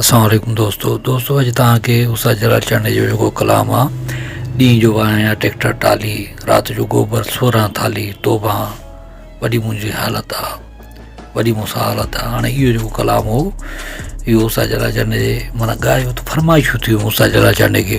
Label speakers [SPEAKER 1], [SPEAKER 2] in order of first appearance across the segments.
[SPEAKER 1] السلام عليڪم دوستو دوستو اڄ توهان کي اسا جلال چانڊي جو جيڪو ڪلام آ ڏينهن جو واهيان ٽيڪٽر ٽالي رات جو گوبر سوران ٿالي توبه وڏي منهنجي حالت آ وڏي مون سان حالت آ هاڻي اهو جيڪو ڪلام هو اهو اسا جلال چانڊي مانا ڳايو ته فرمائشون ٿيون اسا جلال چانڊي کي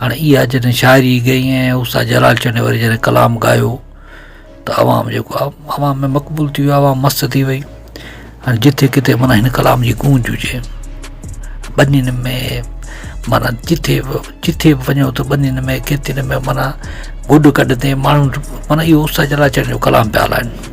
[SPEAKER 1] هاڻ اها جڏهن شاعري ڳئي ۽ استاد جلال چنيو وري جڏهن ڪلام ڳايو ته عوام جيڪو آهي عوام ۾ مقبول ٿي ويو عوام مست ٿي وئي هاڻ جٿي ڪٿي معنيٰ هن ڪلام جي گونج هجي ٻنين ۾ معنيٰ جٿي به جٿي به وڃو ته ٻنين ۾ کيتين ۾ معنيٰ گڏ گڏ تي ماڻهو معنيٰ اهو استاد جلال چنيو ڪلام پيا هلائن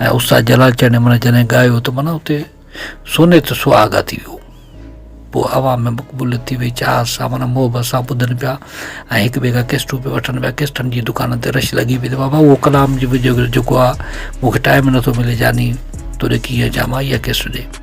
[SPEAKER 1] ۽ استاد جلال چني من جڏهن ڳايو ته من اتي سوني ته سهاڳا ٿي ويو پوء عوام ۾ مقبوليت ٿي وئي چاهت سان من محبت سان ٻڌن پيا ۽ هڪ ٻئي کان قسطون پيا وٺن پيا قسطن جي دڪانن تي رش لڳي پئي ته بابا اهو ڪلام جي جيڪو آ مونکي ٽائم نٿو ملي جاني تون ڏي ڪيئن جا مان اها قسط ڏي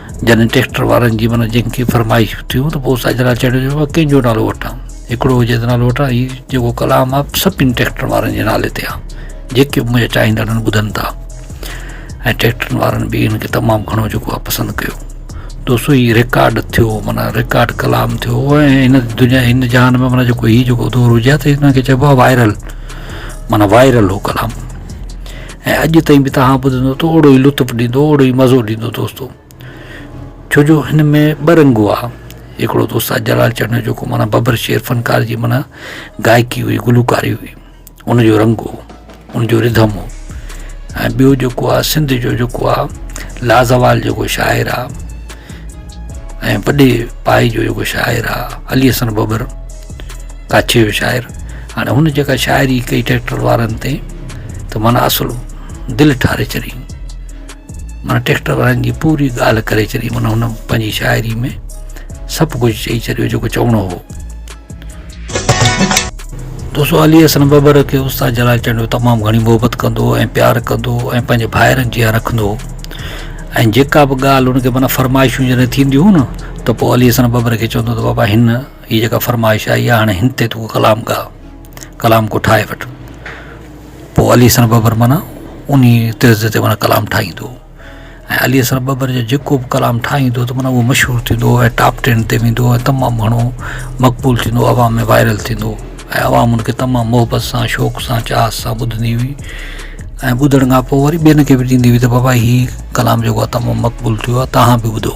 [SPEAKER 1] جڏهن ٽيڪٽر وارن جي من جن کي فرمائشون ٿيون ته پوء ساجنا چيڙيو چيو مان ڪنهن جو نالو وٺان هڪڙو هجي ته نالو وٺان هي جيڪو ڪلام آ سڀني ٽيڪٽر وارن جي نالي تي آ جيڪي به منهنجا چاهيندڙن ٻڌن ٿا ۽ ٽيڪٽرن وارن به هن کي تمام گهڻو جيڪو آ پسند ڪيو دوستو هي رڪارڊ ٿيو مانا رڪارڊ ڪلام ٿيو ۽ هن دنيا هن جهان ۾ مانا جيڪو هي جيڪو دور هجي ته هن کي چئبو آ وائرل مانا وائرل هو ڪلام ۽ اڄ تائين به توهان ٻڌندو ته اوڙو ئي لطف ڏيندو اوڙو ئي مزو ڏيندو دوستو ڇو جو هن ۾ ٻه رنگ هئا هڪڙو دوست آ جلال چنه جو ڪو معنی ببر شير فنڪار جي معنی گائڪي هئي گلوڪاري هئي ان جو رنگ هو ان جو رڌم هو ۽ ٻيو جيڪو آ سنڌ جو جيڪو آ لازوال جيڪو شاعر آ ۽ وڏي پائي جو جيڪو شاعر آ علي حسن ببر ڪاڇي جو شاعر هاڻي هن جيڪا شاعري ڪئي ٽريڪٽر وارن تي ته معنيٰ اصل دل ٺاري ڇڏي معنيٰ ٽريڪٽر وارن جي پوري ڳالهه ڪري ڇڏي معنيٰ هن پنهنجي شاعري ۾ سڀ ڪجهه چئي ڇڏيو جيڪو چوڻو هو دوستو علي حسن ببر کي استاد جلال چنڊو تمام گھڻي محبت ڪندو ۽ پيار ڪندو ۽ پنهنجي ڀائرن جيان رکندو هو ۽ جيڪا به ڳالهه هن کي معنيٰ فرمائشون جڏهن ٿينديون هيون نه ته پوء علي حسن ببر کي چوندو ته بابا هن هي جيڪا فرمائش آئي آهي هاڻي هن تي تون ڪلام ڳاء ڪلام ڪو ٺاهي وٺ پوء علي حسن ٻٻر معنيٰ ان ئي طرز تي معنيٰ ڪلام ٺاهيندو ۽ علي حسن ٻٻر جو جيڪو بि ڪلام ٺاهيندو ته معنيٰ مشهور ٿيندو ۽ ٽاپ ٽين تي ويندو ۽ تمام گهڻو مقبول ٿيندو عوام ۾ وائرل ٿيندو ۽ عوام ان کي تمام محبت سان شوق سان چاهت سان ٻڌندي هئي ۽ ٻڌڻ کان پوء وري ٻين کي به ڏيندي هئي ته بابا هي ڪلام جيڪو تمام مقبول ٿيو آهي تهان به ٻڌو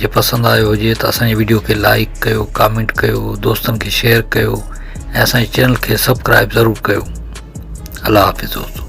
[SPEAKER 1] جي پسند آيو هجي ته اسان جي ويڊيو کي لائيڪ ڪيو ڪامينٽ ڪيو دوستن کي شيئر ڪيو ۽ اسان جي چينل کي سبڪرائيب ضرور ڪيو الله حافظ دوستو